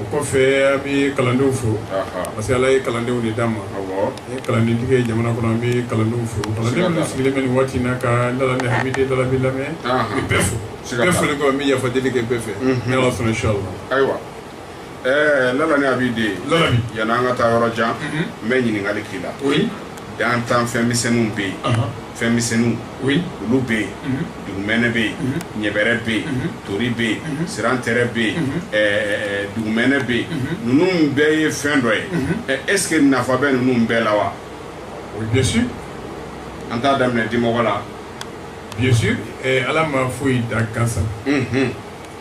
o kɔfɛ an bɛ kalandenw fo parce que ala ye kalandenw de d'an ma an ye kalandentigi ye jamana kɔnɔ an bɛ kalandenw fo kalandenw sigilen bɛ nin waati na ka lala ni abidin lalabi lamɛn n bɛ bɛɛ fo bɛɛ foli kɔ n bɛ yafa deli kɛ bɛɛ fɛ ni ala sɔnna inchallah ayiwa ɛɛ lala ni abidin lalabi yanni an ka taa yɔrɔ jan n bɛ ɲininkali k'i la oui dan tan fɛn misɛnninw bɛ yen fɛn misɛnninw olu bɛ yen mhm. dugumɛnɛ bɛ yen mhm. ɲɛbɛrɛ bɛ yen mhm. tori bɛ yen sirantɛrɛ bɛ yen dugumɛnɛ bɛ yen ninnu bɛɛ ye fɛn dɔ ye est ce que nafa bɛ ninnu bɛɛ la wa oui bien sûr an t'a daminɛ dimɔgɔ la bien sûr ala ma foyi dan gansan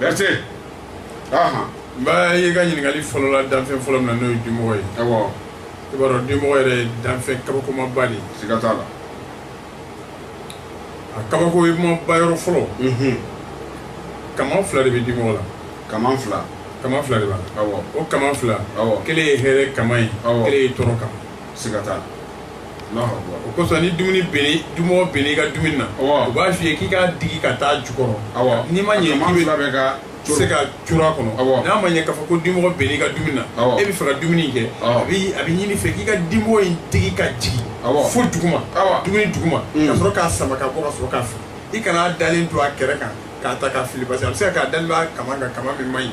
Berté ahan n b'a ye i ka ɲininkali fɔlɔ la danfɛn fɔlɔ min na n'o ye dimɔgɔ ye awɔ i b'a dɔn dimɔgɔ yɛrɛ ye danfɛn kabakomaba de ye siga t'a la a kabakomaba yɔrɔ fɔlɔ Mhm. kaman fila de bɛ dimɔgɔ la kaman fila kaman fila de b'a la awɔ o kaman fila awɔ kelen ye hɛrɛ kaman ye Awɔ. kelen ye tɔɔrɔ kaman siga t'a la kosɔn ni dumuni dimɔgɔ bɛnn'i ka dumuni na u b'a f'i ye k'i k'a digi ka taa jukɔrɔ n'i ma ɲɛ se ka cu a kɔnɔ n'a ma ɲɛ k'a fɔ ko dimɔgɔ bɛnn'i ka dumuni na e bɛ fɛ ka dumuni kɛ a bɛ ɲini i fɛ k'i ka dimɔgɔ in digi ka jigin fo dugu ma dumuni dugu ma ka sɔrɔ k'a sama k'a bɔ ka sɔrɔ k'a fili i kan'a dalen to a kɛrɛ kan k'a ta k'a fili parce que a bɛ se ka k'a dalen b'a kaman kan min man ɲi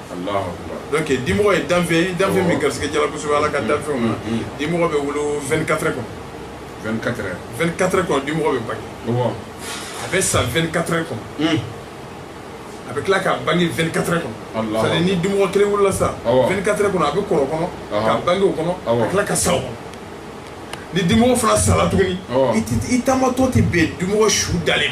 donc dimɔgɔ ye danfɛn ye danfɛn min garisigɛ jala kosɛbɛ ala ka danfɛnw na dimɔgɔ bɛ wolo 24 heures kɔnɔ 24 heures 24 heures kɔnɔ dimɔgɔ bɛ bange a bɛ sa 24 heures kɔnɔ a bɛ tila ka bange 24 heures kɔnɔ c'est à dire ni dimɔgɔ kelen wolola sisan 24 heures kɔnɔ a bɛ kɔrɔ o kɔnɔ ka bange o kɔnɔ ka tila ka sa o kɔnɔ ni dimɔgɔ fana sala tuguni i taamatɔ tɛ bɛn dimɔgɔ su dalen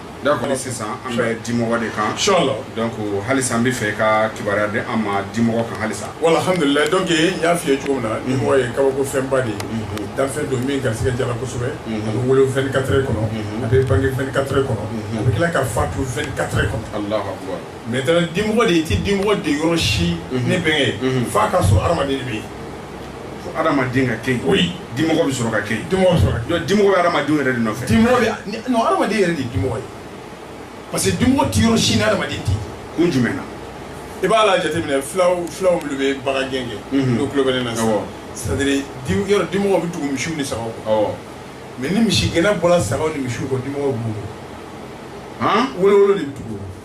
d'accord sisan an bɛ dimɔgɔ de kan inchallah donc halisa an bɛ fɛ ka kibaruya di an ma dimɔgɔ kan halisa wa alhamdulilayi donc n y'a f'i ye cogo min na dimɔgɔ ye kabako fɛnba de ye danfɛn don min garisigɛ jala kosɛbɛ a bɛ wolo 24 heures kɔnɔ a bɛ bange 24 heures kɔnɔ a bɛ tila ka fatu 24 heures kɔnɔ allahu akbar maintenant dimɔgɔ de i tɛ dimɔgɔ ye yɔrɔ si ne bɛnkɛ f'a ka sɔrɔ adamaden de bɛ yen Adamaden ka kɛ yen oui dimɔgɔ bɛ sɔrɔ ka kɛ yen dimɔgɔ bɛ adamaden yɛrɛ de nɔfɛ non adamaden yɛrɛ de dimɔgɔ ye parce que dimɔgɔ tɛ yɔrɔ si ni adamaden tɛ kun jumɛn na i b'a la jateminɛ fulaw fulaw minnu bɛ bagangɛn kɛ mhm. n'u tulo bɛ ne na sisan c'est-à-dire yɔrɔ dimɔgɔ bɛ tugu misiw ni sagaw kɔ mais ni misigɛnna bɔra sagaw ni misiw kɔ dimɔgɔ bɛ b'u kɔ wolowolo de bɛ tugu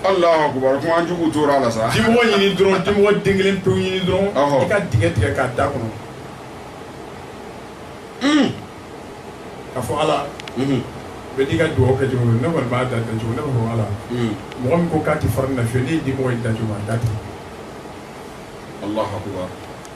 Alahu akbar kuma jugu tora la sa, dimɔgɔ ɲini dɔrɔn, dimɔgɔ den kelen pewu ɲini dɔrɔn, ɔhɔ, i ka dingɛ tigɛ k'a da kɔnɔ, un, k'a fɔ Ala, unhun, bɛɛ n'i ka dugawu kɛ cogo don, ne kɔni b'a da ten cogo, ne b'a fɔ Ala, un, mɔgɔ min ko k'a tɛ fara ne na fiyewu, ne ye dimɔgɔ in da cogo min a da ten, Alahu akbar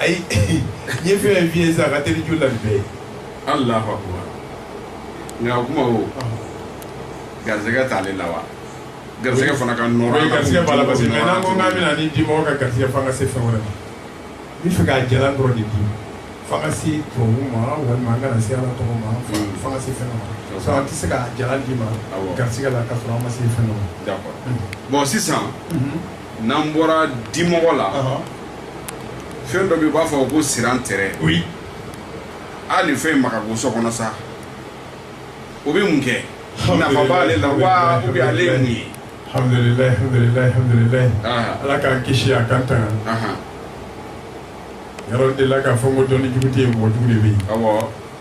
ayi n ye fɛn f'i ye sisan a ka teli jugu la ni bɛɛ ye alahu akubar nka o kuma o garisɛgɛ t'ale la wa garisɛgɛ fana ka nɔrɔ ye garisɛgɛ b'a la parce que mais n'an ko k'an bɛna ni dimɔgɔ ka garisɛgɛ f'an ka se fɛn wɛrɛ ma n bɛ fɛ k'a jalan dɔrɔn de di f'an ka se tɔgɔ ma walima an kana se ala tɔgɔ ma f'an ka se fɛn dɔ ma sinon an tɛ se ka jalan d'i ma garisɛgɛ la k'a sɔrɔ an ma se fɛn dɔ ma d'accord bon sisan n'an bɔra dimɔgɔ la fɛn dɔ bɛ yen u b'a fɔ ko sirantɛrɛ a nin fɛn ma ko so kɔnɔ sa o bɛ mun kɛ nafa b'ale la wa ou bien ale ye mun ye ala k'an kisi a k'an tanga yɔrɔ de la k'a fɔ ko dɔnni jugu tɛ yen mɔgɔ jugu de bɛ yen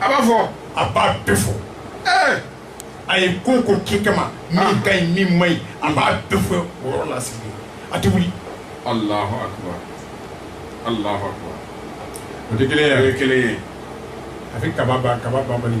a b'a fɔ a b'a bɛɛ fɔ ee a ye ko o ko kɛ kama min ka ɲi min man ɲi a b'a bɛɛ fɔ o yɔrɔ la sigilen a tɛ wuli alahu akubar alahu akubar o tɛ kelen ye o ye kelen ye a bɛ kaba ban kaba banbali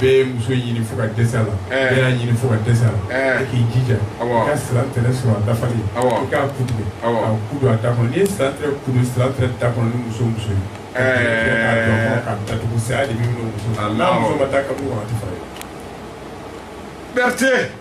bɛɛ ye muso ɲini fo ka dɛsɛ a la bɛɛ y'a ɲini fo ka dɛsɛ a la e k'i jija i ka sirantɛrɛ sɔrɔ a dafalen i k'a ku tigɛ k'a ku don a da kɔnɔ n'i ye sirantɛrɛ ku don sirantɛrɛ da kɔnɔ ni muso o muso ye k'a don a kɔnɔ k'a datugu saya de bɛ minɛ muso n'a muso ma taa kaburu kɔnɔ a tɛ fara i la Berthe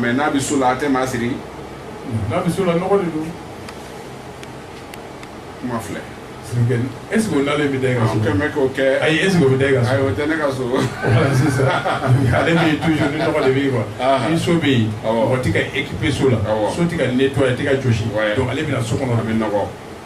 mais n'a bɛ so la a tɛ maa siri n'a bɛ so la nɔgɔ de don kuma filɛ est ce que o nalen bɛ da i ka so kɛmɛ k'o kɛ ayi est ce que o bɛ da i ka so ayi o tɛ ne ka so voilà c'est ça ale bɛ yen toujours ni nɔgɔ de bɛ yen quoi ni so bɛ yen mɔgɔ tɛ ka équiper so la so tɛ ka nettoyer a tɛ ka jɔsi donc ale bɛna so kɔnɔ a bɛ nɔgɔ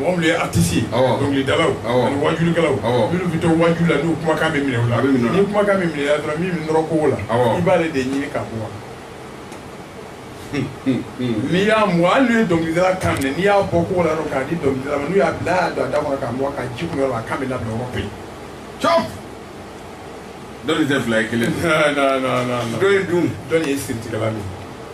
mɔgɔ minnu ye artiste ye awɔ dɔnkilidalaw awɔ ani wajulikɛlaw awɔ minnu bɛ to waju la n'u kumakan bɛ minɛ u la a bɛ minɛ u la ni kumakan bɛ minɛ la dɔrɔn min bɛ nɔrɔ kogo la awɔ i b'ale de ɲini ka bɔ a la n'i y'a mɔ hali n'u ye dɔnkilidala kan minɛ n'i y'a bɔ kogo la dɔrɔn k'a di dɔnkilidala ma n'u y'a bila a y'a don a da kɔnɔ k'a mugan k'a ji kunu yɔrɔ la a kan bɛ labila yɔrɔ bɛɛ cɔp dɔnni tɛ fila ye kelen non non non non dɔ ye dun dɔnni ye siritigɛla de ye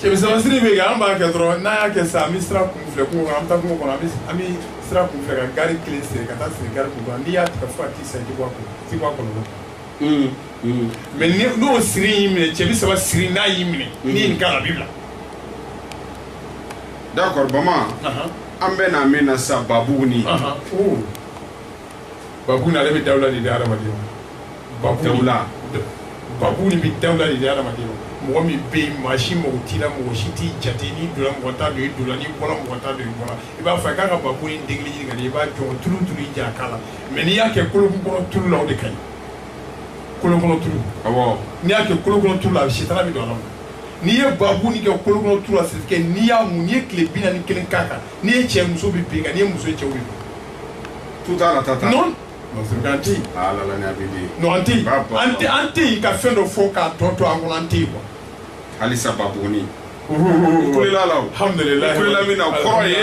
cɛ bi saba siri bɛ kɛ an b'a kɛ dɔrɔn n'a y'a kɛ sisan an bɛ sira kun filɛ kungo kɔnɔ an bɛ taa kungo kɔnɔ an bɛ sira kun filɛ ka gari kelen siri ka taa siri gari kun kɔnɔ n'i y'a tigɛ fo ka t'i sa i tɛ bɔ a kɔnɔ i tɛ bɔ a kɔlɔlɔ kɔnɔ mais n'o siri y'i minɛ cɛ bi saba siri n'a y'i minɛ n'i ye nin k'a la a b'i bila d'accord Bama an bɛ na min na sisan babugunin babuguni ale bɛ dawula de di hadamaden ma babuguni bɛ dawula de di hadamaden ma mɔgɔ min bɛ yen maa si mago t'i la mɔgɔ si t'i jate n'i donna mɔgɔ t'a dɔn i donna n'i bɔra mɔgɔ t'a dɔn i bɔra i b'a fɔ a k'a ka babuguni degeli ɲini ka di i b'a jɔ tulu tulu i ja a k'a la mais n'i y'a kɛ kolokɔrɔ tulu la o de ka ɲi kolokɔrɔ tulu awɔ n'i y'a kɛ kolokɔrɔ tulu la a bɛ sitara bɛ don a la n'i ye babuguni kɛ kolokɔrɔ tulu la sisan n'i y'a mun n'i ye tile bi naani ni kelen k'a kan n'i ye cɛ ye musow bɛ bin i kan n'i ye muso ye cɛw bɛ bin tout à la tata non an tɛ yen ah la la ni abidi non an tɛ yen an tɛ an tɛ yen ka fɛn dɔ fɔ k'a tɔ to an kɔnɔ an tɛ yen quoi halisa babuguni kulela la o alhamdulilayi kulela min na o kɔrɔ ye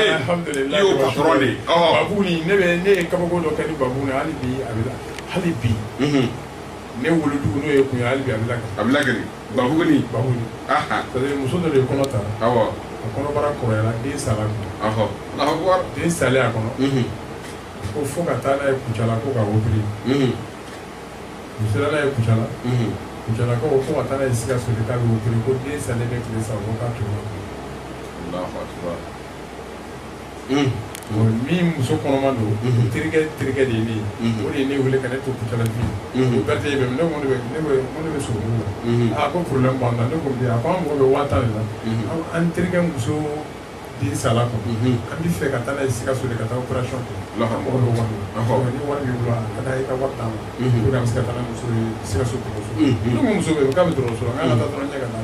i y'o patɔrɔn de ye babuguni ne bɛ ne ye kabako dɔ kɛ ni babuguni hali bi a bɛ hali bi ne wolodugu n'o ye kun ye hali bi a bɛ lakari a bɛ lakari Ba ba muso dɔ de ye kɔnɔ ta a kɔnɔbara kɔrɔyara den sara a kɔnɔ den salen a kɔnɔ ko fo ka taa n'a ye kucala ko ka opéré u sera n'a ye kucala kucalakaw ko fo ka taa n'a ye sikaso de ka taa opéré ko den salen bɛ tile saba ko ka min muso kɔnɔma don terikɛ terikɛ de ye ne ye o de ye ne wele ka ne to kucala o berete bɛ ne ko ne bɛ so la a ko problème b'an na ne ko mun a ko an mago bɛ waa tan de la an terikɛ muso den sala a kɔnɔ an bɛ fɛ ka taa n'a ye sikaso de ka taa opération kɛ an mago bɛ wari la ni wari b'i bolo ka taa i ka wari d'a ma pour que an bɛ se ka taa n'a muso ye sikaso dɔgɔtɔrɔso ne ko muso bɛ yen k'a bɛ dɔgɔtɔrɔso la k'an ka taa dɔrɔn ɲɛ ka taa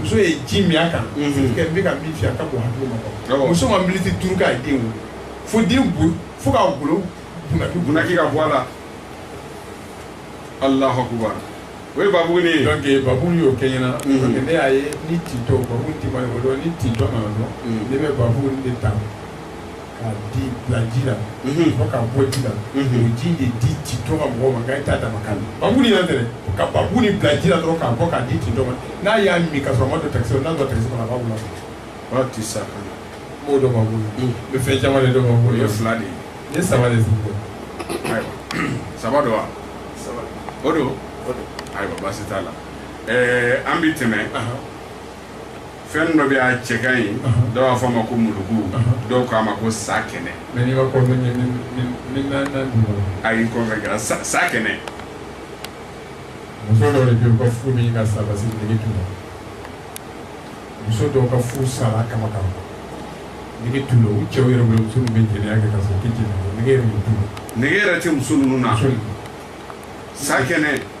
muso ye ji min a kan n bɛ ka min f'i ye a ka bon hakili ma muso ma miniti duuru kɛ a ye den wolo fo den fo ka golo bunaki ka bɔ a la allahu akbar o ye babuguni don babuguni y'o kɛ n ɲɛna ne y'a ye ni tintɔ ni tintɔ don ne bɛ babuguni de ta k'a de bila ji la Mhm. fo k'a bɔ ji la Mhm. o ji de di tintɔ ma mɔgɔw ma nka e t'a dama kan na babuguni yɛrɛ tɛ dɛ ka babuguni bila ji la dɔrɔn k'a bɔ k'a di tintɔ ma n'a y'a min ka sɔrɔ a ma don takisi la n'a don takisi kɔnɔ a b'a wolo Ba ti sa kan. n b'o dɔn babugu la Mhm. n bɛ fɛn caman de dɔn babugu la O ye fila de ye. n ye saba de sigi dɔn Ayiwa. Saba don wa? O don. Ayiwa baasi t'a la. Ɛɛ an bɛ tɛmɛ fɛn dɔ bɛ a cɛ ka ɲi dɔw b'a fɔ a ma ko muluku dɔw ko a ma ko sakɛnɛ ayi n kɔfɛ kɛra sa sakɛnɛ muso dɔw de bɛ yen ka furu min ka sa parce que nege t'u la muso dɔw ka furu sara kama kama nege t'u la u cɛw yɛrɛ bolo muso ninnu bɛ jɛnɛya kɛ ka sɔrɔ u tɛ jɛnɛya nege yɛrɛ t'u la nege yɛrɛ tɛ muso ninnu na sakɛnɛ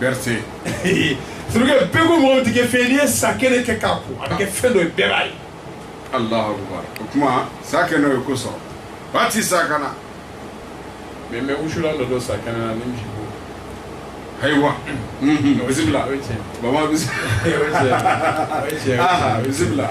bɛrɛte sirikɛ bɛɛ ko mɔgɔ tɛ kɛ fɛn n'i ye sa kɛnɛ kɛ k'a ko a bɛ kɛ fɛn dɔ ye bɛɛ b'a ye alahu akubar o tuma sa kɛnɛ ye ko so ba ti sa kana mɛ mɛ wusulan dɔ don sa kɛnɛ na ni misi bo ayiwa bisimila baba bisimila bisimila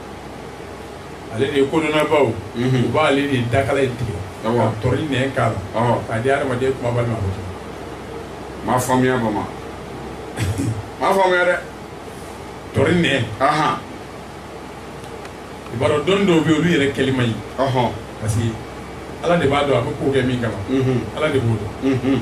ale de ye kodɔnnabaaw u b'ale de dakala in tigɛ ka tɔri nɛn k'a la k'a di adamaden kumabali ma m'a faamuya baba m'a faamuya dɛ tɔri nɛn i b'a dɔn dɔnni dɔw bɛ yen olu yɛrɛ kɛli man ɲi parce que ala de b'a dɔn a bɛ ko kɛ min kama ala de b'o dɔn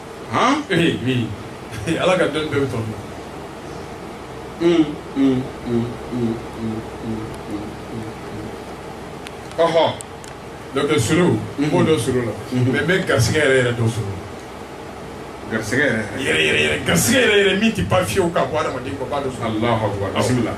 han ee min ala ka dɔnni bɛɛ bɛ tɔn ɔhɔ donc suru n b'o dɔn suru la mɛ n bɛ garisɛgɛ yɛrɛ yɛrɛ dɔn suru garisɛgɛ yɛrɛ yɛrɛ yɛrɛ yɛrɛ garisɛgɛ yɛrɛ yɛrɛ min tɛ ban fiyewu ka bɔ adamaden kɔ b'a dɔn suru alahu akubar bisimila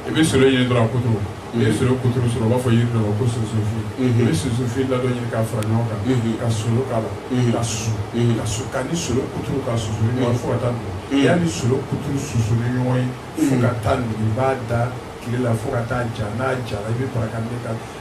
i bɛ solo ɲini dɔrɔn a kuturu i bɛ solo kuturu sɔrɔ u b'a fɔ yiri dɔ ko sunsunfin i bɛ sunsunfin ladɔn ɲini k'a fara ɲɔgɔn kan ka solo k'a la ka susu ka su k'a ni solo kuturu ka susu ni ɲɔgɔn fo ka taa nugu y'a ni solo kuturu susu ni ɲɔgɔn ye fo ka taa nugu i b'a da tile la fo ka taa ja n'a jara i bɛ baraka ne ka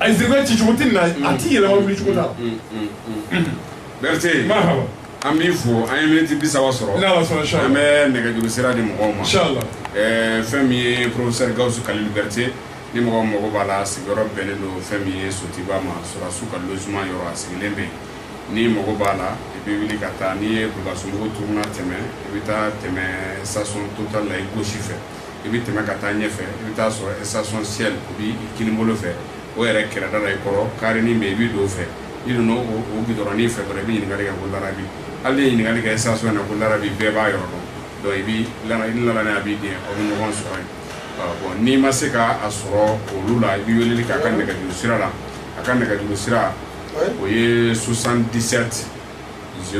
a zirikɛ ci cogo tɛ na a tɛ yɛlɛma wuli cogo la bɛrɛte an b'i fo an ye miniti bi saba sɔrɔ an bɛ nɛgɛjuru sira di mɔgɔw ma fɛn min ye professeur gawusu kalilu bɛrɛte ni mɔgɔ mago b'a la sigiyɔrɔ bɛnnen don fɛn min ye sotuba ma sɔrɔdasiw ka logement yɔrɔ a sigilen bɛ yen ni mago b'a la i bɛ wuli ka taa n'i ye bulukasumbugu turuna tɛmɛ i bɛ taa tɛmɛ station total la i gauche fɛ i bɛ tɛmɛ ka taa ɲɛfɛ i bɛ taa sɔrɔ station shell o b'i kininbolo fɛ o yɛrɛ kɛrɛda la i kɔrɔ karenin min i bɛ don o fɛ i donna o gidɔrɔnnin fɛ dɔrɔn i bɛ ɲininkali kɛ ko larabi hali n'i ye ɲininkali kɛ station na ko larabi bɛɛ b'a yɔrɔ dɔn i bɛ la a b'i di aw bɛ ɲɔgɔn sɔrɔ yen n'i ma se k'a sɔrɔ olu la i bɛ weleli k'a ka nɛgɛjuru sira la a ka nɛgɛjuru sira o ye soixante dix sept z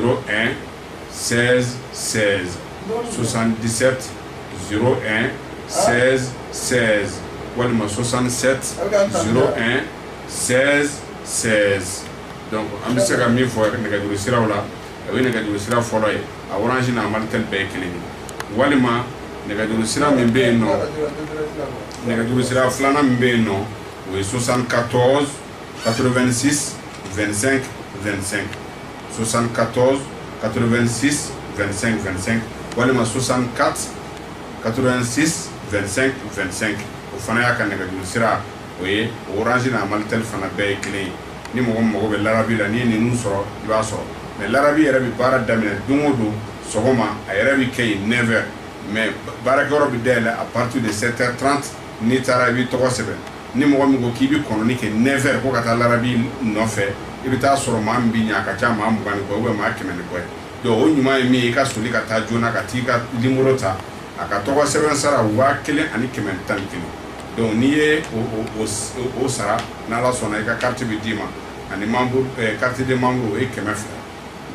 sɛ sɛ sososan disɛ n sɛ sɛ walima sososan sɛ n sɛ sɛ dɔn an bɛ se ka min fɔ nɛgɛjuru siraw la a bɛ nɛgɛjuru sira fɔlɔ ye a wransi na mali tɛ bɛɛ ye kelen ye walima nɛgɛjuru sira min bɛ yen nɔ nɛgɛjuru sira filanan min bɛ yen nɔ o ye sososan ka tɔn 86 25 25 74 86 25 25 walima 64 86 25 25 o fana y'a ka nɛgɛjuru sira o ye Orange n'a Malitel fana bɛɛ ye kelen ye ni mɔgɔ mago bɛ larabi la n'i ye ninnu sɔrɔ i b'a sɔrɔ mais larabi yɛrɛ bɛ baara daminɛ don o don sɔgɔma a yɛrɛ bɛ kɛ yen neuf heures mais baarakɛyɔrɔ bɛ dayɛlɛ à partir de sept heures trente n'i taara i b'i tɔgɔ sɛbɛn ni mɔgɔ min ko k'i bɛ kɔnɔni kɛ neuf heures ko ka taa larabi nɔfɛ i bɛ taa sɔrɔ maa min bɛ ɲɛ a ka ca maa mugan ni kɔ bɛ maa kɛmɛ ni kɔ ye donc o ɲuman ye min ye i ka soli ka taa joona ka t'i ka nimoro ta a ka tɔgɔ sɛbɛn sara waa kelen ani kɛmɛ ni tan ni kelen donc n'i ye o sara n'ala sɔnna i ka carte bɛ d'i ma ani membre carte de membre o ye kɛmɛ fila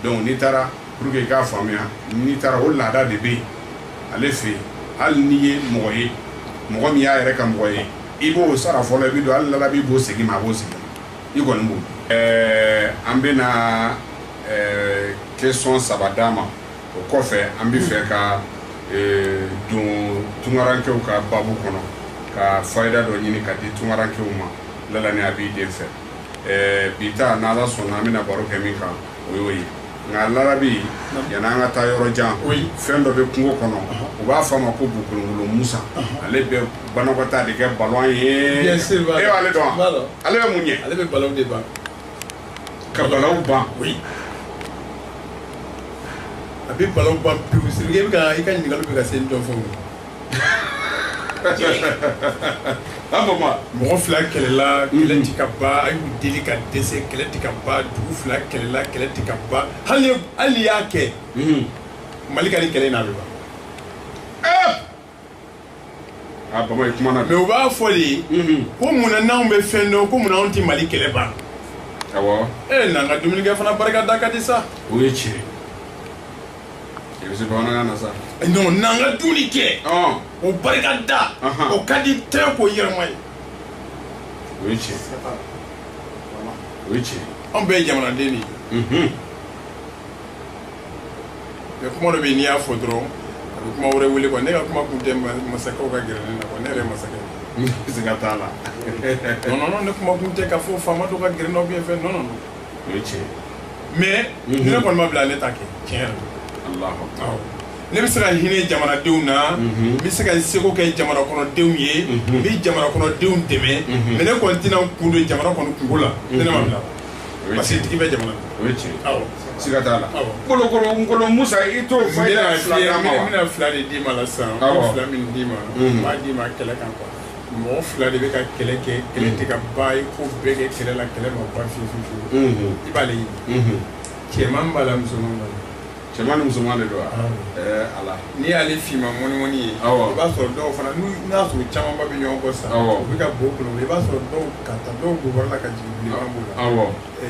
donc n'i taara pour que i k'a faamuya n'i taara o laada de bɛ yen ale fɛ yen hali n'i ye mɔgɔ ye mɔgɔ min y'a yɛrɛ ka mɔgɔ ye i b'o sara fɔlɔ i bɛ don hali larabi b'o segin ma a b'o segin i kɔni b'o an bɛna question saba d'a ma o kɔfɛ an bɛ fɛ ka don tunkarankew ka baabu kɔnɔ ka fayida dɔ ɲini ka di tunkarankew ma laala n'a b'i den fɛ ɛɛ bi ta n'ala sɔnna an bɛna baro kɛ min kan o y'o ye nka larabi yanni an ka taa yɔrɔ jan fɛn dɔ bɛ kungo kɔnɔ u b'a fɔ a ma ko bukolongolo musa ale bɛ banakɔtaa de kɛ balawu ye e b'ale dɔn ale bɛ mun ɲɛ ale bɛ balawu de ban ka balawu ban a bɛ balawu ban pewu sirike i bɛ ka i ka ɲininkali bɛ ka se dɔ fɛnw a bama mɔgɔ fila kɛlɛla kɛlɛ ti ka ban a y'u deli ka dɛsɛ kɛlɛ ti ka ban dugu fila kɛlɛla kɛlɛ ti ka ban hali ye- hali n'i y'a kɛ mali ka nin kɛlɛ in na a bɛ ban a bama i kumana mais u b'a fɔ de ko munna n'anw bɛ fɛn dɔn ko munna anw tɛ mali kɛlɛ ban awɔ e n'an ka dumunikɛ fana barika da ka di sa o ye tiɲɛ ye i bɛ se bamanankan na sa non n'an ka dumuni kɛ ɔn o barika da Ahan. o ka di tɛ ko yɛrɛma ye o ye tiɲɛ o ye tiɲɛ anw bɛɛ ye jamanaden de ye Mhm. mais kuma dɔ bɛ yen n'i y'a fɔ dɔrɔn a bɛ kuma wɛrɛ wele quoi ne ka kuma kun tɛ ma- masakɛw ka gɛrɛ ne na quoi ne yɛrɛ ye masakɛ de ye. siga t'a la non non non ne kuma kun tɛ k'a fɔ faama dɔ ka gɛrɛ n'aw bɛ fɛn non non non o ye tiɲɛ mais ni ne kɔni ma bila ne t'a kɛ tiɲɛ yɛrɛ la Alahu Akibar. awɔ ne bɛ se ka hinɛ jamanadenw na n bɛ se ka seko kɛ jamana kɔnɔdenw ye n bɛ jamana kɔnɔdenw dɛmɛ mais ne kɔni tɛna n kun don jamana kɔni kunko la ni ne ma bila O ye parce que tiɲɛ. tigi bɛ jamana o ye tiɲɛ ye. awɔ siga t'a la Awɔ. kolokolo nkolo musa i t'o n fɔ i bɛna ka fila fiɲɛ- d'a ma n wa bɛna fila de d'i ma la sisan n Awɔ. bɛ fila min d'i ma n b'a d'i ma kɛlɛ kan quoi mɔgɔ fila de bɛ ka kɛlɛ kɛ kɛlɛ tɛ ka ban i ko bɛɛ kɛ kɛlɛ la kɛlɛ ma ban fiyewu fiyewu Unhun. i b'ale ɲini Unhun. cɛman b'a la musoman b'a la cɛman ni musoman de don wa Awɔ. ɛɛ ala n'i y'ale finma mɔnimɔni ye Awɔ. i b'a sɔrɔ dɔw fana n'u n'a sɔrɔ camanba bɛ ɲɔgɔn kɔ sa Awɔ. u bɛ ka bo kɔnɔ i b'a sɔrɔ dɔw ka taa dɔw bobara la ka jigin bilenman b'u la awɔ Ɛɛ,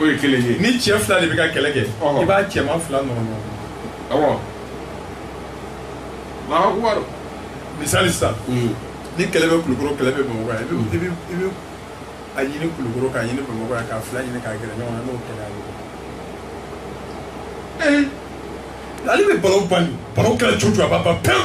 o ye kelen ye ni cɛ fila de bɛ ka kɛlɛ kɛ i b'a cɛman fila nɔrɔ ɲɔgɔn na awɔ misali sisan hmm. ni kelen bɛ kulukoro kelen bɛ bamakɔ yan hmm. i bɛ a ɲini kulukoro k'a ɲini bamakɔ yan k'a fila ɲini k'a gɛrɛ ɲɔgɔn na n'o kɛlɛ ye eh, ale bɛ balawu ban balawu kɛlɛ cogo cogo a b'a ban pewu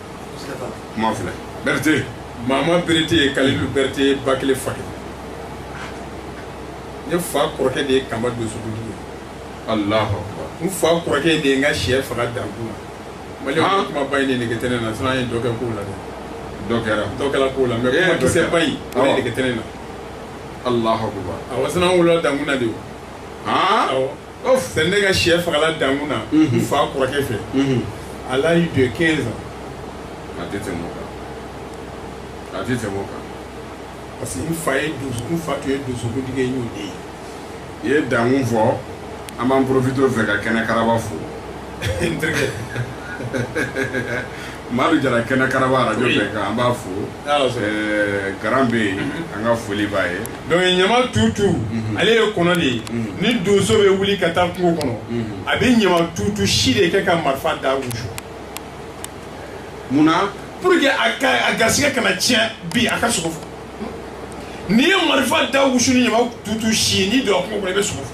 kuma filɛ berete maama berete ye kalilu berete ye ba kelen fa kelen ne fa kɔrɔkɛ de ye kanba donsokuntigi ye alahu akbar n fa kɔrɔkɛ de ye n ka shɛ faga dankun la mali Ah. kuma ba in de nege tɛ ne na sinon an ye dɔ kɛ ko la dɛ dɔ kɛra dɔ kɛla ko la mais Eh, kuma dɔ kisɛ kɛra. ba in o de Awɔ. nege tɛ ne na alahu akbar awa sinon an wolola dankun na de o han awɔ Ɔ fɛn ne ka shɛ fagala dankun na n fa kɔrɔkɛ fɛ à l'âge de quinze ans a tɛ tɛmɛ o kan a tɛ tɛmɛ o kan parce que n fa ye donsokun fa tun ye donsokuntigi ye n y'o de ye i ye dankun fɔ an b'an profiter o fɛ ka kɛnɛ karaba fo n terikɛ Madu jara kɛnɛ karaba radio bɛnkan an b'a fo garan bɛ yen an ka foli b'a ye donc ɲama tutu ale ye kɔnɔ de ye ni donso bɛ wuli ka taa kungo kɔnɔ a bɛ ɲama tutu si de kɛ ka marifa da wusu munna pour que a garisɛgɛ kana tiɲɛ bi a ka sogo fɔ n'i ye marifa da wusu ni ɲama tutu si ye n'i donna kungo kɔnɔ i bɛ sogo fɔ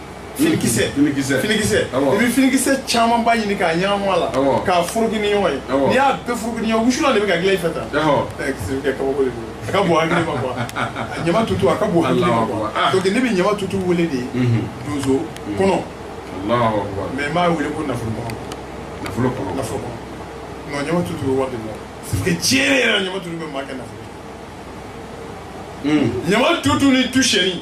finikisɛ finikisɛ finikisɛ i bɛ finikisɛ camanba ɲini k'a ɲagami a la k'a furuki ni ɲɔgɔn ye n'i y'a bɛɛ furuki ni ɲɔgɔn wusulan de bɛ ka dilan i fɛ tan kɛ kabako de don a ka bon hakili ma quoi ɲama tutu a ka bon hakili ma quoi donc ne bɛ ɲama tutu wele de donso kɔnɔ mais n b'a wele ko nafolo kɔnɔ nafolo kɔnɔ nafolo kɔnɔ non ɲama tutu bɛ wari de bɔ parce que tiɲɛ yɛrɛ ɲama tutu bɛ maa kɛ nafolo ɲama tutu ni tusɛni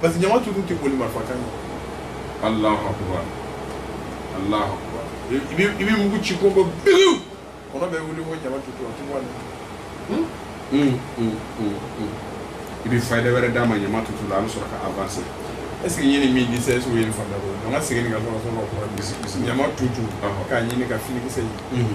parce que ɲama tutu tɛ boli marifa kan ɲɛ alahu akubar alahu akubar i bɛ i bɛ mugu ci ko ko biwu kɔnɔ bɛ wuli ko ɲama tutu a tɛ bɔ a la i bɛ fayida wɛrɛ d'a ma ɲama tutu la an bɛ sɔrɔ ka avancer est ce que ɲini min di sa est ce que o ye nin faamuya dɔrɔn an ka segin nin ka sɔrɔ sɔrɔ ka kɔrɔ ɲama tutu k'a ɲini ka finikisɛ ɲini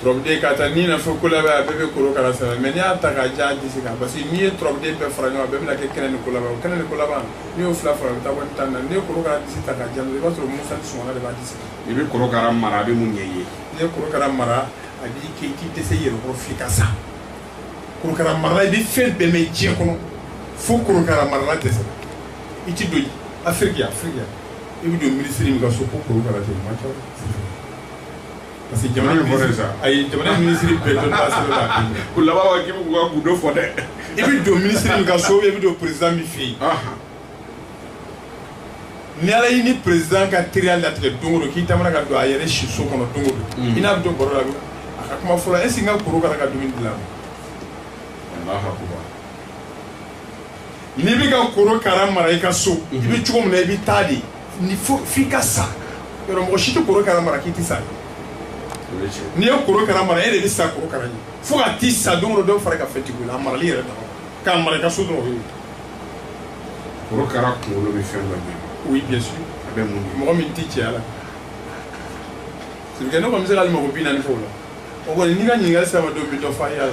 turabuden ka taa ni na fo kolaba a bɛɛ bɛ korokara sɛbɛn mais n'i y'a ta k'a jan a disi kan parce que n'i ye turabuden bɛɛ fara ɲɔgɔn kan a bɛɛ bɛna kɛ kɛnɛ ni kolaba o kɛnɛ ni kolaba n'i y'o fila fara o bɛ taa wari tan na n'i ye korokara disi ta k'a jan i b'a sɔrɔ musa ni sɔngɔla de b'a disi kan i bɛ korokara mara a bɛ mun ɲɛ i ye n'i ye korokara mara a b'i kɛ i ti dɛsɛ i yɛrɛ kɔrɔ f'i ka sa korokara marala i bɛ fɛn bɛɛ mɛn diɲɛ kɔnɔ fo korokara marala dɛsɛ i ti don afiriki afiriki i bɛ don minisiri min ka so ko korokara tɛ o man ca Parce que jamana in fɔra sa a ye jamana minisiri bɛɛ dɔn ko laban k'i bɛ k'u ka gundo fɔ dɛ i bɛ don minisiri min ka so i bɛ don président min fɛ yen ni ala y'i ni président ka teriya latigɛ don o don k'i taamana ka don a yɛrɛ si so kɔnɔ don o don i n'a bɛ don baro la a ka kuma fɔlɔ est-ce que n ka korokara ka dumuni dilan n'i bɛ ka korokara mara i ka so i bɛ cogo min na i bɛ taa de ni fo f'i ka sa yɔrɔ mɔgɔ si tɛ korokara mara k'i tɛ sa n'i ye korokara mara e de bɛ sa korokara ɲɛ fo ka t'i sa don o don dɔ fara ka fɛntigiya la a marali yɛrɛ dama k'a mara i ka so dɔrɔn o ye korokara kunkolo bɛ fɛn dɔ ɲɛ oui bien sûr a bɛ mun de mɔgɔ min tɛ cɛya la c'est que ne kɔni bɛ se k'ale mago bi naani fɔ o la o kɔni n'i ka ɲininkali sera n ma don min dɔ fɔ a ye a la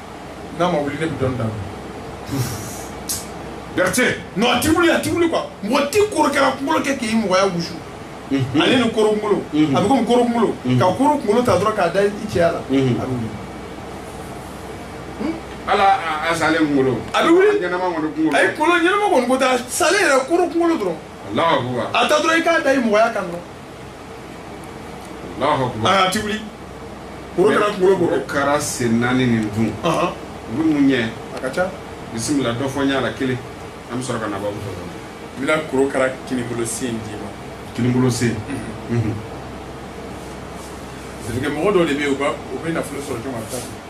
n'a ma wuli ne bɛ dɔnni daminɛ Berthe non a ti wuli a ti wuli quoi mɔgɔ ti korokara kunkolo kɛ k'i mɔgɔya wusu mhm. ale ni koro kunkolo mhm. a bɛ komi koro kunkolo mhm. ka koro kunkolo ta dɔrɔn k'a da i cɛya la a bɛ wuli hmm? ala a salen kunkolo a bɛ wuli ɲɛnama kɔni kunkolo ayi kunkolo ɲɛnama kɔni ko tɛ a salen yɛrɛ koro kunkolo dɔrɔn a ta dɔrɔn i k'a da i mɔgɔya kan dɔrɔn a ti wuli korokara kunkolo b'o kɛ korokara sen naani nin dun u bɛ mun ɲɛ a ka ca bisimila dɔ fɔ n y'a la kelen an bɛ sɔrɔ ka na babu fɔ n bɛna korokara kinibolo sen d'i ma kinibolo sen mhm. mhm. mɔgɔ dɔ de bɛ yen u bɛ nafolo sɔrɔ cogo min na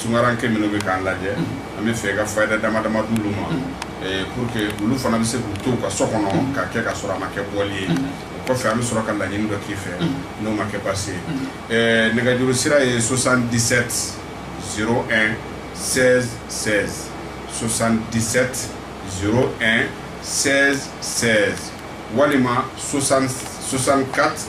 tunkaranke minnu bɛ k'an lajɛ an bɛ fɛ ka fayida dama dama d'olu ma pour que olu fana bɛ se k'u to u ka so kɔnɔ ka kɛ ka sɔrɔ a ma kɛ bɔli ye kɔfɛ an bɛ sɔrɔ ka laɲini dɔ k'i fɛ n'o ma kɛ baasi ye nɛgɛjuru sira ye soixante-dix-sept zéro un seize seize soixante-dix-sept zéro un seize seize walima soixante-quatre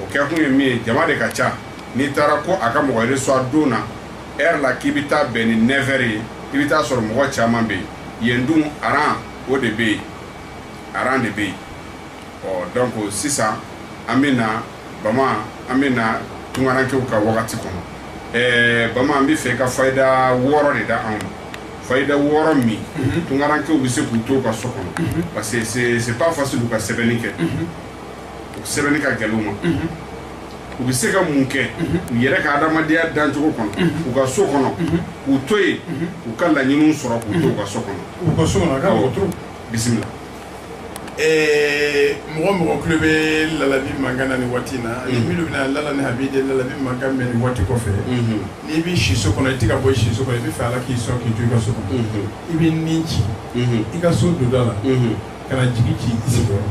o kɛkun ye min ye jama de ka ca n'i taara ko a ka mɔgɔ reçoit don na heure la k'i bɛ taa bɛn ni neuf heures ye i bɛ taa sɔrɔ mɔgɔ caman bɛ yen yen dun aran o de bɛ yen aran de bɛ yen ɔ donc sisan an bɛ na bama an bɛ na tunkarankew ka wagati kɔnɔ ɛɛ bama an b'a fɛ i ka fayida wɔɔrɔ de da anw ma fayida wɔɔrɔ min mhm. tunkarankew bɛ se k'u to ka so kɔnɔ mhm. parce que c'est pas facile u ka sɛbɛnni kɛ mhm. u sɛbɛnni ka gɛlɛn u ma u bɛ se ka mun kɛ u yɛrɛ ka adamadenya dancogo kɔnɔ u ka so kɔnɔ k'u to yen u ka laɲiniw sɔrɔ k'u to u ka so kɔnɔ u ka so kɔnɔ a ka mɔgɔ to bisimila Eh, mɔgɔ mɔgɔ tulo bɛ lalabi mankan na nin waati in na ani minnu bɛna lala ni habi de lalabi mankan mɛn nin waati kɔfɛ n'i bɛ siso kɔnɔ i tɛ ka bɔ siso kɔnɔ i bɛ fɛ ala k'i sɔn k'i to i ka so kɔnɔ i bɛ ni ci i ka so donda la ka na jigi ci i sigiyɔrɔ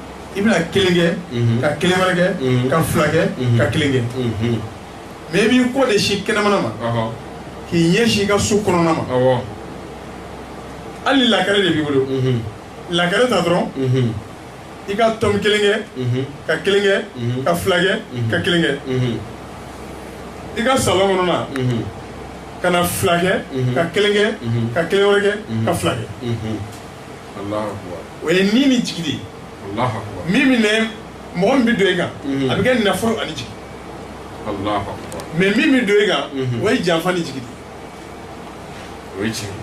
i bɛna kelen kɛ ka kelen wɛrɛ kɛ ka fila kɛ ka kelen kɛ mais i b'i kɔ de sin kɛnɛmana ma k'i ɲɛsin i ka so kɔnɔna ma hali lakare de b'i bolo lakare ta dɔrɔn i ka tɔmi kelen kɛ ka kelen kɛ ka fila kɛ ka kelen kɛ i ka salon kɔnɔna ka na fila kɛ ka kelen kɛ ka kelen wɛrɛ kɛ ka fila kɛ o ye ni ni jigi de ye alahu akubar min bɛ mɔgɔ min bɛ don e kan a bɛ kɛ nafolo ani jigi alahu akubar mais min bɛ don e kan o ye janfa ni jigi de ye o ye tiɲɛ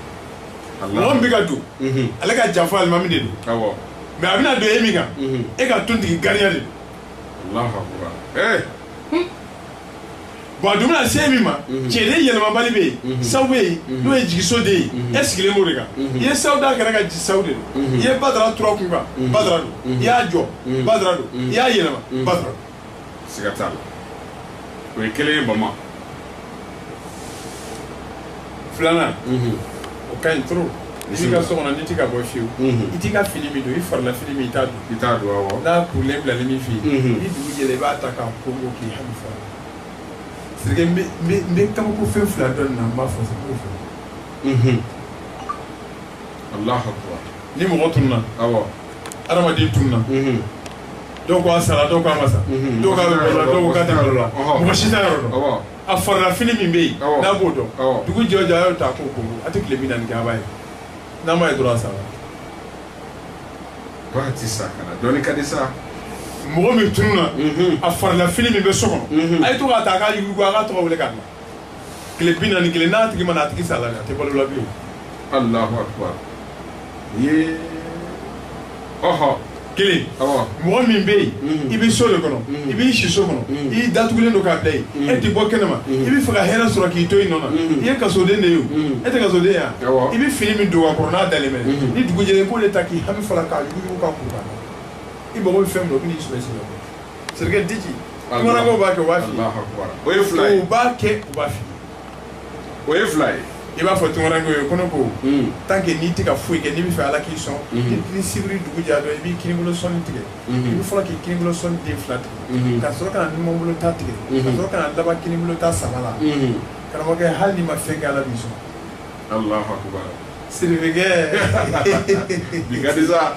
mɔgɔ min bɛ ka don ale ka janfa alimami de don mais a bɛna don e min kan e ka tontigi gariya de don bon a dun bɛna se min ma mhm. cɛden yɛlɛmabali bɛ yen mhm. saw bɛ yen mhm. n'o ye jigiso de ye e sigilen b'o de kan i ye saw da kɛra ka ji saw de don i ye badara turu a kun kan badara don i y'a jɔ badara don i y'a yɛlɛma badara don. siga t'a la o ye kelen ye bama. filanan o ka ɲi trop i b'i ka so kɔnɔ n'i tɛ ka bɔ fiyewu i t'i ka fini min don i farila fini min i t'a don awɔ n'a kurulen bilalen b'i fɛ yen ni dugu jɛra i b'a ta k'a kongon k'i hami f'a la sirike n bɛ n bɛ n bɛ kabako fɛn fila dɔn nin na n b'a fɔ sa k'o fɔ alahu akubar ni mɔgɔ tununa awɔ adamaden tununa dɔw ko a sara dɔw ko a ma sa dɔw k'a bɛ balo la dɔw ko k'a tɛ balo la mɔgɔ si t'a yɔrɔ dɔn awɔ a farila fini min bɛ yen n'a b'o don dugu jɛ o jɛ a y'o ta k'o kongon a tɛ tile bi naani kɛ a b'a ye n'a ma ye dɔrɔn a sara pati sakana dɔnni ka di sa mɔgɔ min tununa mhm. a farila fini min bɛ so kɔnɔ mhm. a ye to k'a ta k'a yuguyugu a k'a tɔgɔ wele k'a na tile bi naani ni kelen n'a tigi ma na a tigi sala a tɛ balo la bilen. alahu akubar ye ɔhɔ. kelen mɔgɔ min bɛ yen mm. i bɛ so de kɔnɔ mm. i b'i siso kɔnɔ mm. i datugulen don k'a bila yen e tɛ bɔ kɛnɛma i bɛ fɛ ka hɛrɛ sɔrɔ k'i to i nɔ na i ye kasoden de ye o e tɛ kasoden ya i bɛ fini min don a kɔrɔ n'a dalen bɛ ni dugu jɛlen i b'o de ta k'i hami f'a la k'a yuguyugu k'a kuru i mago bɛ fɛn min na o bɛ n'i sɔrɔ sen kɔrɔ sirike diji tunkarankɛw b'a kɛ u b'a fili o ye fila ye u b'a kɛ u b'a fili o ye fila ye i b'a fɔ tunkaranke ye ko ne ko hmm. tant que n'i tɛ ka foyi kɛ n'i bɛ fɛ ala k'i sɔn hmm. ni sibiri dugu jɛ dɔrɔn i b'i kinibolo sɔnin tigɛ hmm. i bɛ fɔlɔ k'i kinibolo sɔnin den fila tigɛ ka sɔrɔ ka na numanbolo ta tigɛ ka sɔrɔ ka na laban kinibolo ta saba la karamɔgɔkɛ hali n'i ma fɛn kɛ ala b'i sɔn Allahu akbar siribikɛ bi ka di sa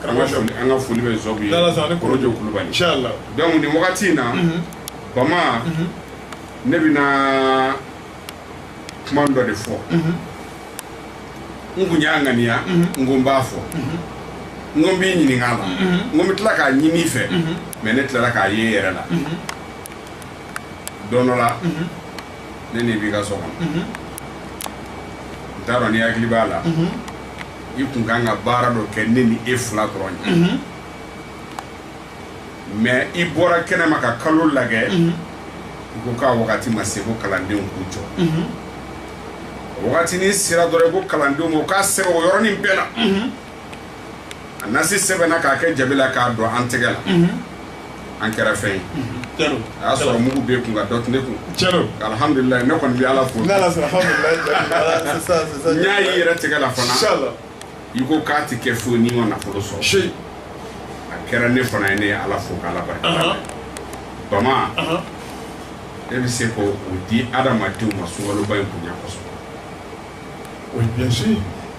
karamɔgɔ sɔ an ka foli bɛ zɔbu ye korojo kulubali inshallah donc nin wagati in na mhm. bama mhm. ne bɛna kuma dɔ de fɔ mhm. n kun y'a ŋaniya n ko n b'a fɔ n ko n b'i ɲininka a la n ko n bɛ tila k'a ɲini i fɛ mais ne tilala k'a ye n yɛrɛ la don dɔ la ne n'i b'i ka so kɔnɔ n t'a dɔn n'i hakili b'a la i kun kan ka baara dɔ kɛ ne ni e fila dɔrɔn ye mais i bɔra kɛnɛma ka kalo lagɛ i ko k'a wagati ma se ko kalandenw k'u jɔ o wagati nin sera dɔrɔn i ko kalandenw ma u k'a sɛbɛn o yɔrɔnin bɛɛ la a nasi sɛbɛnna k'a kɛ jabi la k'a don an tɛgɛ la an kɛra fɛn ye a y'a sɔrɔ mugu b'e kun nka dɔ tɛ ne kun alhamdulilahi ne kɔni bɛ ala fo n y'a y'i yɛrɛ tɛgɛ la fana i ko k'a tɛ kɛ foyi n'i ma nafolo sɔrɔ a kɛra ne fana ye ne ye ala fo k'ala barika bama e bɛ se k'o di adamadenw ma sunkaloba in bonya kosɛbɛ Oui bien sûr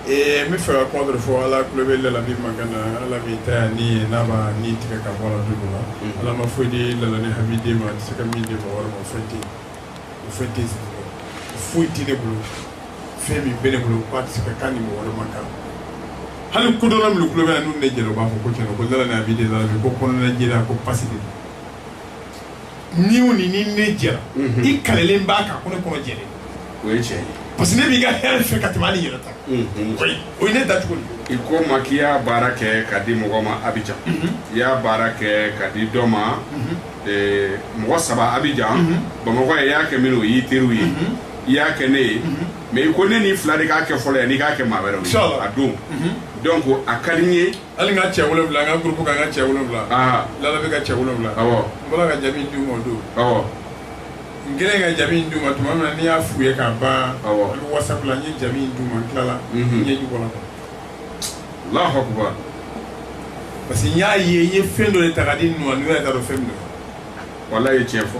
ee n bɛ fɛ ka kuma dɔ fɔ ala tulo bɛ lalabi man na ala bɛ ta yan ni n'a ma ni tigɛ ka bɔ du la ala ma foyi di la ni hami den ma se ka min de bɔ yɔrɔ ma fɛn tɛ o fɛn tɛ foyi tɛ ne bolo fɛn min bɛ ne bolo k'a tɛ se ka kan ni mɔgɔ wɛrɛ ma kan hali kodɔn minnu tulo bɛ n'u de jɛnɛ u b'a fɔ ko cɛn ko la a bɛ de la ko kɔnɔna jɛra ko pasi de ni o ni ni ne jɛra Mhm. i kalelen b'a kan ko ne kɔnɔ jɛlen don. o ye tiɲɛ ye parce que ne b'i ka hɛrɛ fɛ ka tɛmɛ hali n yɛrɛ ta kan. Mhm. Oui, o ye ne dacogo de ye. i ko n ma k'i y'a baara kɛ ka di mɔgɔ ma abijan i y'a baara kɛ ka di dɔ ma eh, mɔgɔ saba abijan bamakɔ ye i y'a kɛ minnu ye o y'i teriw ye i y'a kɛ ne ye mais i ko ne n'i fila de k'a kɛ fɔlɔ yan n'i k'a kɛ maa wɛrɛw ye Inshallah. a don donc a ka di n ye hali n ka cɛ wolonwula n ka groupe kan n ka cɛ wolonwula lala bɛ n ka cɛ wolonwula n bɔra ka jabi in d'u ma o don n kɛlen ka jabi in d'u ma tuma min na n'i y'a f'u ye k'a ban WhatsApp la n ye jabi in d'u ma n tilala n ɲɛ kɔnɔ Allahu akbar parce que n y'a ye n ye fɛn dɔ de ta ka di ninnu ma ninnu yɛrɛ t'a dɔn fɛn min don walayi i ye cɛn fɔ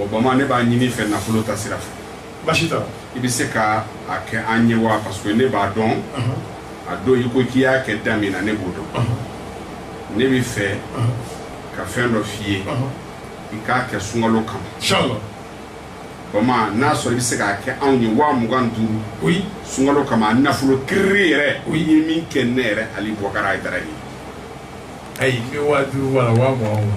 o bama ne b'a ɲini i fɛ nafolo ta sira fɛ baasi t'a la i bɛ se ka a kɛ an ye wa parce que ne b'a dɔn a don i ko k'i y'a kɛ da min na ne b'o dɔn ne bɛ fɛ ka fɛn dɔ f'i ye i k'a kɛ sunkalo kama bama n'a sɔrɔ i bɛ se k'a kɛ anw ye wa mugan duuru oui sunkalo kama nafolo kiriri yɛrɛ o ye min kɛ ne yɛrɛ ali bɔkara ayidara ye ayi n bɛ wa duuru wala wa mugan wa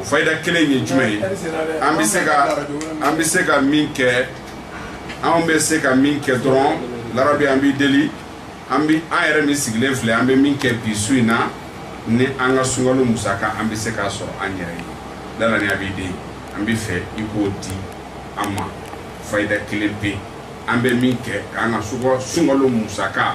o fayida kelen ye jumɛn ye an bɛ se ka an bɛ se ka min kɛ anw bɛ se ka min kɛ dɔrɔn larabi an b'i deli an bɛ an yɛrɛ min sigilen filɛ an bɛ min kɛ bi su in na ni an ka sunkalo musaka an bɛ se k'a sɔrɔ an yɛrɛ ye lala ni a b'i den an bɛ fɛ i k'o di an ma fayida kelen pe an bɛ min kɛ k'an ka sunkalo musaka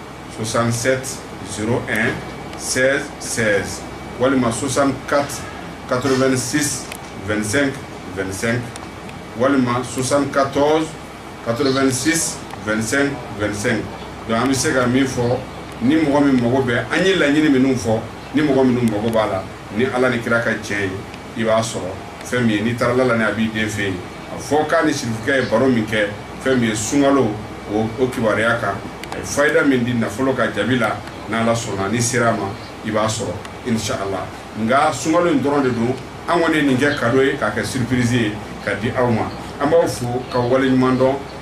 67 s sɛ sɛ walima sosan ka kato2si 2 2sɛn walima sosan ka tɔn kato2si 2 2sɛn don an bɛ se ka min fɔ ni mɔgɔ min mago bɛɛ an ye laɲini minnu fɔ ni mɔgɔ minnu mago b'a la ni ala ni kira ka cɛ ye i b'a sɔrɔ fɛn min ye n'i taara lala ni a b'i den fɛ yen a fɔ k'a ni sirifukɛ ye baro min kɛ fɛn min ye sunkalo o o kibaruya kan a ye fayida min di nafolo ka jaabi la n'ala sɔnna n'i sera a ma i b'a sɔrɔ inshallah nka sunkalo in dɔrɔn de don an kɔni ye nin kɛ kado ye k'a kɛ surprise ye ka di aw ma an b'aw fo ka wale ɲuman dɔn